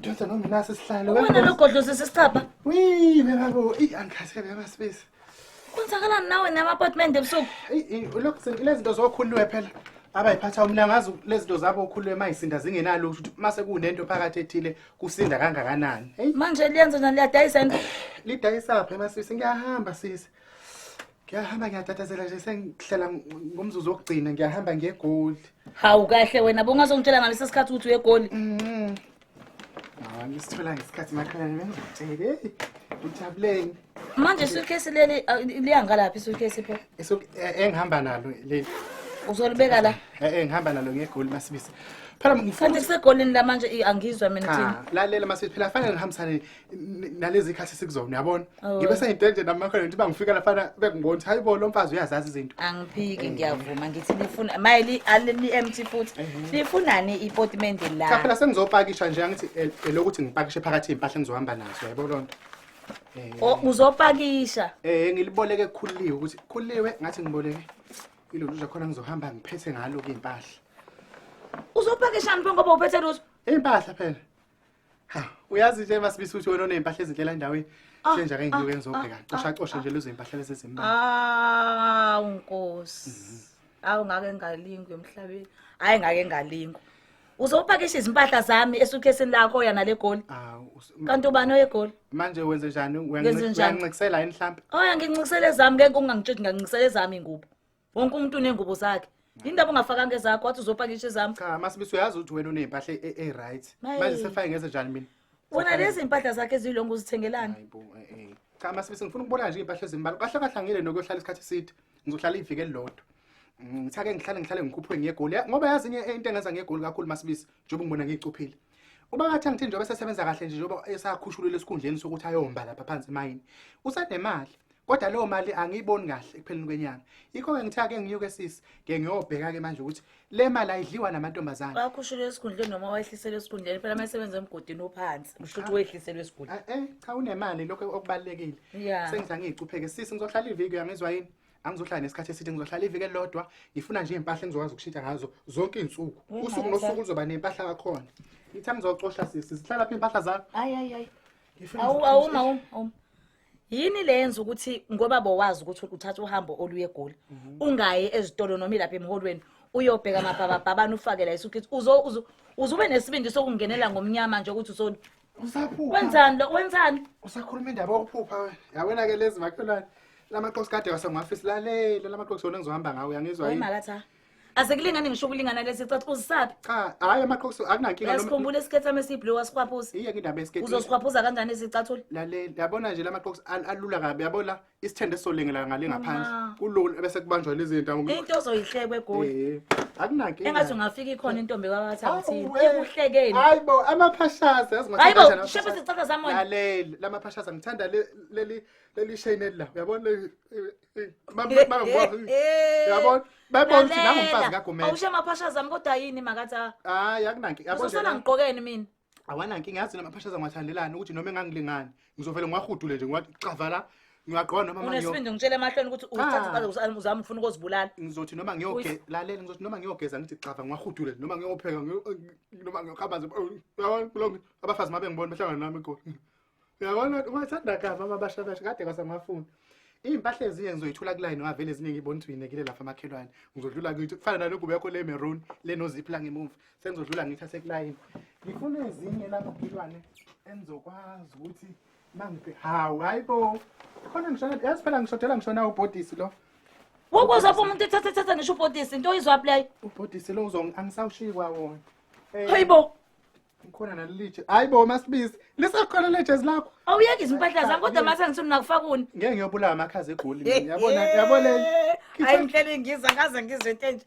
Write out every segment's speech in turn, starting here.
Dota noma nasi sihlalo. Wena logodlo sesisicapha. Wee, babo, i angikaze kabe amasibisi. Kwenzakalani nawe nama-apartment ebusuku? Lezi zinto zokhuluwe phela abayiphatha umna ngazi lezi zinto zabo okhuluwe mayisinda zingenalo ukuthi mase kunento phakathi ethile kusinda kangakanani. Manje liyenza njani liyadayisa into? Lidayisa phi masisi ngiyahamba sisi. ngiyahamba ngiyatatazela nje sengihlela ngomzuzu wokugcina ngiyahamba ngegoli hawu kahle wena bongazongitshela ngalesi sikhathi ukuthi uyegoli mm-hmm. hawa ngisithola ngesikhathi makhalane bengizotshele ujabuleni manje isuitcase leli liyangalaphi isuitcase pho eh, engihamba nalo leli uzolibeka la eh, eh ngihamba nalo ngegoli masibisi phela ngifuna kusegolini la manje angizwa mina thina lalela masibisi phela fanele ngihambisane N- nalezi khathi sikuzona uyabona Oh. ngibe sengitenje namakhona ngithi bangifika lafana bekungibona ukuthi hayi bo lo mfazi uyazazi izinto angiphiki ngiyavuma ngithi nifuna maye li- ali- li-empty futhi nifunani ipotimende cha la phela sengizopakisha nje angithi el- elokuthi ngipakishe phakathi iy'mpahla engizohamba nazo yabo loo nto O- uzopakisha um ngiliboleke kukhuliwe ukuthi khuliwe ngathi ngiboleke iloluja khona ngizohamba ngiphethe ngalo-ke iy'mpahla uzopakishani pho ngoba uphethe lutho iy'mpahla phela Ha, uyazi nje masibisa ukuthi wena oney'mpahla ezinhlela endaweni. Ah, Nje nje ake ngiyoke ah, ngizobheka. ah, Cosha ah, cosha nje lezo y'mpahla lezi ezimbalwa. awu nkosi awu ngake ngalingwa emhlabeni hhayi ngake ngalingwa uzopakisha izimpahla zami esukhesini lakho oya nale goli Awu. us- m- kanti ubani oyegoli Manje wenze njani? Ngenze njani? Uyancikisela yini mhlampe? oya ngincikisele zami ngeke ungangitsheli ngangincikisele zami ingubo wonke umuntu unengubo zakhe indaba ungafakanga ezakho wathi uzopakisha ezami cha masibiso uyazi ukuthi wena uney'mpahla e- e-right Maye. manje sefake ngenze njani mina wona lezi mpahla zakhe eziyilongo uzithengelani Hayi bo, eh, eh. cha masibiso ngifuna ukubona nje iy'mpahla ezimbala kahle kahle angile nokuyohlala isikhathi eside ngizohlala iviki elilodwa Mm, ngithake ngihlale ngihlale ngikhuphuke ngegoli Ya- ngoba yazi inye into engenza ngegoli kakhulu masibisi njengoba ngibona ngiyicuphile uba ngathi angithini njengoba esesebenza kahle nje njengoba esakhushulile esikhundleni sokuthi ayomba lapha phansi emayini usanemali kodwa leyo mali angiyiboni kahle ekupheleni kwenyanga yikho-ke ngithe ake ngiyuke sisi ke ngiyobheka-ke manje ukuthi le mali ayidliwa namantombazane wakhushulwe esikhundleni noma wayehliselwe esikhundleni phela uma esebenza emgodini ophansi kusho ukuthi wehliselwe esikhundleni eh cha unemali lokho okubalulekile Yeah. sengithi angiyicupheke sisi ngizohlala iviki uyangizwa yini angizohlala nesikhathi eside ngizohlala iviki elilodwa ngifuna nje iy'mpahla engizokwazi ukushintsha ngazo zonke iy'nsuku Wena usuku wena nosuku cha. luzoba ney'mpahla kakhona ngithi angizocosha sisi zihlala phi iy'mpahla zakho hayi hayi hayi Ngifuna Awu- ngizocosha. awuma awuma awuma yini le yenza ukuthi ngoba bowazi ukuthi uthatha uhambo oluye egoli mhm. ungayi ezitolo noma ilapha emholweni uyobheka amabhababhabana ufake la isukithi uzube nesibindi sokungenela ngomnyama nje ukuthi usoni usaphupha wenzani lo wenzani usakhuluma indaba yokuphupha yawena ke lezi makhelwane lamaqoqi kade wasengwafisi lalela lamaqoqi sona engizohamba ngawo uyangizwa yini Asekulingani ngisho ukulingana lesi cathi uzisabi. Cha, hayi amaqhusu akunankinga noma. Yasikhumbula isikhetha mesi blue wasikhwaphuza. Iye kindaba esikhetha. Uzosikhwaphuza kanjani izicathula? Lalela, yabona nje lamaqhusu alula kabi yabona isithende solengela ngale ngaphansi. Kulula bese kubanjwa lezi zinto ngoba. Into ozoyihlekwe egoli. Eh. Akunankinga. Engathi ungafika ikhona intombi kwabatha ukuthi ikuhlekeni. Hayibo amaphashaza yazi ngathi kanjani. Hayibo, shepe sicatha zamona. Lalela, lamaphashaza ngithanda leli leli shayinela. Uyabona leli yabona bebona ukuthi nangumfazi kagumela awusho amaphasha zami kodwa yini makathi hayi akunanki yabona usona ngiqokeni mina awanankinga yazi namaphasha zangiwathandelani ukuthi noma engangilingani ngizovele ngiwahudule nje ngiwagxava la ngiyagqoka noma manje unesibindi ngitshela emahlweni ukuthi uthatha ah. uzama ufuna ukuzibulala ngizothi noma ngiyoge lalela ngizothi noma ngiyogeza ngithi xava ngiwahudule noma ngiyopheka noma ngiyokhamba nje oh, yabona kulonke abafazi mabe ngibona behlangana nami igoli uyabona ukuthi ungathanda kabi amabashakasha kade kwasamafuni iy'mpahla ezinye ngizoyithola kulayini ngavele ezinye ngibona ukuthi uyinekile lapha amakhelwane ngizodlula ngithi kufana nale ngubo yakho le maroon le noziphi la ngemuva sengizodlula ngithathe kulayini ngifuna ezinye la makhelwane engizokwazi ukuthi mangiphe hawu hayi bo khona ngishona yazi phela ngishodela ngishona ubhodisi lo wokuza pho umuntu ethathe ethathe ngisho ubhodisi into oyizwaphi leyo ubhodisi lo uzong angisawushiyi kwawona Eh, hayi bo Ngikhona nalilitshe. Hayi bo masibisi. Lisakhona lejezi lakho. Awuyeke izimpahla zami kodwa mase ngithini nakufakuni. Ngeke ngiyobulawa amakhaza egoli mina. Yabona yabona. Hayi nghlele ngiza ngaze ngizwe into enje.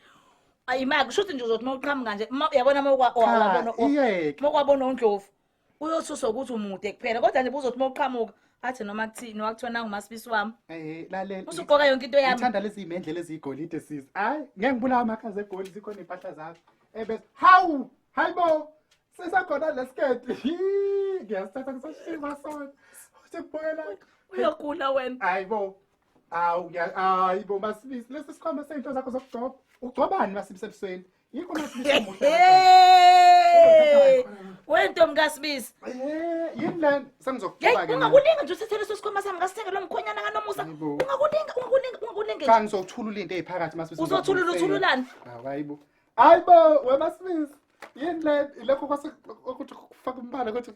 Ayi maka kusho ukuthi nje uzothi mawuqhamuka nje ma- uyabona mawukwa Cha, wabona iyeke. mawukwabona undlovu. Uyosusa ukuthi umude kuphela kodwa nje buzothi mawuqhamuka athi noma kuthini wakuthiwa nangu masibisi wami. Eh lalela. Usuqoka yonke into yami. Ngithanda lezi imendlela ezigolide sis. Hayi ngeke ngibulawa amakhaza egoli zikhona impahla zakho. Ebes. Hawu! Hayi bo, sisakhona lesiketi. Ngiyasithatha ngisashima sona. Uthi kubuyela. Uyagula wena. Hayi bo. Awu ngiya hayi bo masibisi lesi sikhwama sezinto zakho zokugcoba. Ugcobani masibisi ebusweni? Yikho masibisi omuhle. Hey! Wento mkasibisi. Eh, yini lento? Sengizokugcoba Hey, ke. mina. ungakulinga nje usithele leso sikhwama sami ngasithenge lo mkhwenyana kanomusa. Hayi bo. Ungakulinga, ungakulinga, ungakulinga. Cha nje. ngizothulula into eziphakathi masibisi. Uzothulula, uthululani? Hayi bo. hayi bo wemasmith yini le ilokho kwase ukuthi kufaka umbala ukuthi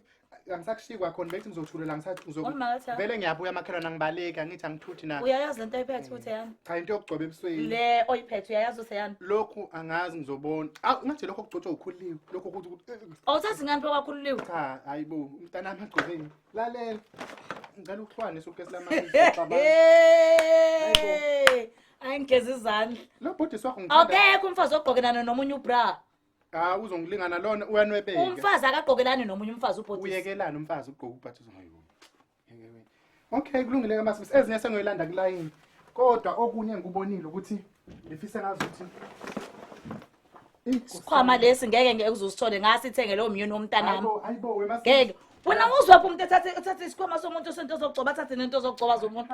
angisakushiyi kwakhona bethi ngizothulela ngisazokuvele vele ngiyabuya makhelwana ngibaleki angithi angithuthi na uyayazi lento oyiphethe ukuthi yani cha into yokugcoba ebusweni le oyiphethe uyayazi ukuthi yani lokhu angazi ngizobona aw ngathi lokho kugcotshwa ukhuliwe lokho ukuthi awuthathi ngani kwakhuliwe cha hayibo umntana wami agcobeni lalela ngicela ukuhlwanisa ukukesi lama Ayi ngigeza izandla. Lo bhuti swakho ngithanda. Akekho umfazi ogqokelana nomunye ubra. Ah uzongilingana lona uyanwebeka. Umfazi akagqokelani nomunye umfazi ubhuti. Uyekelana umfazi ugqoka ubhathi uzongayo. Okay kulungile ke masisi ezinye sengoyilanda kulayini. Kodwa okunye ngikubonile ukuthi ngifise ngazi ukuthi Sikhwama lesi ngeke ngeke uzosithole ngasithenge lo myeni womntanami. Hayibo hayibo wemasisi. Ngeke. Wena uzwaphi umuntu ethathe ethathe isikhwama somuntu osento zokugcoba athathe nento zokugcoba zomuntu.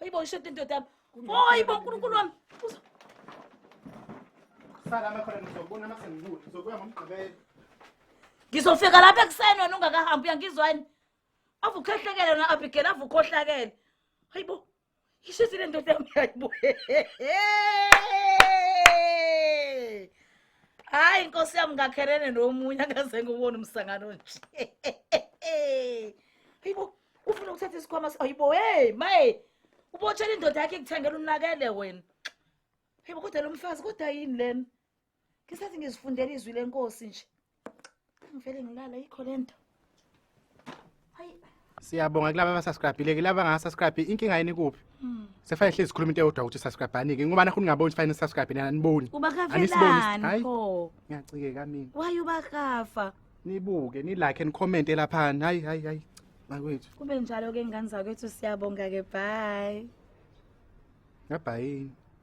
Hayi bo ishode indoda yami. Hayi bo uNkulunkulu wami. Uzo- Sala makhona ngizobona uma sengibuya. Ngizobuya ngomgqibelo. Ngizofika lapha ekuseni wena ungakahambi uyangizwani? Avukhohlakele na Abigail avukhohlakele. Hayi bo. Ishisi le ndoda yami hayi bo. Hayi inkosi yami ngakherene nomunye akaze ngubone umsangano nje. Hayi bo. ufuna ukuthatha isikhwama ayibo hey maye ubotshela indoda yakhe ikuthengela unakele wena hebo kodwa lo mfazi kodwa yini lena ngisathi ngizifundela izwi lenkosi nje ngivele ngilala yikho le nto hayi siyabonga kulaba abasubscribile ke laba angasubscribe inkinga yini kuphi hmm. sefane hlezi sikhuluma into eyodwa ukuthi subscribe-anike ngoba nakho ningaboni sifane nisubscribe nina aniboni uba kavelani pho ngiyacikeka mina waye uba kafa nibuke nilike and comment elaphana hayi hayi hayi bakwethu kube njalo ke ngane zakwethu siyabonga ke bye ngabhayini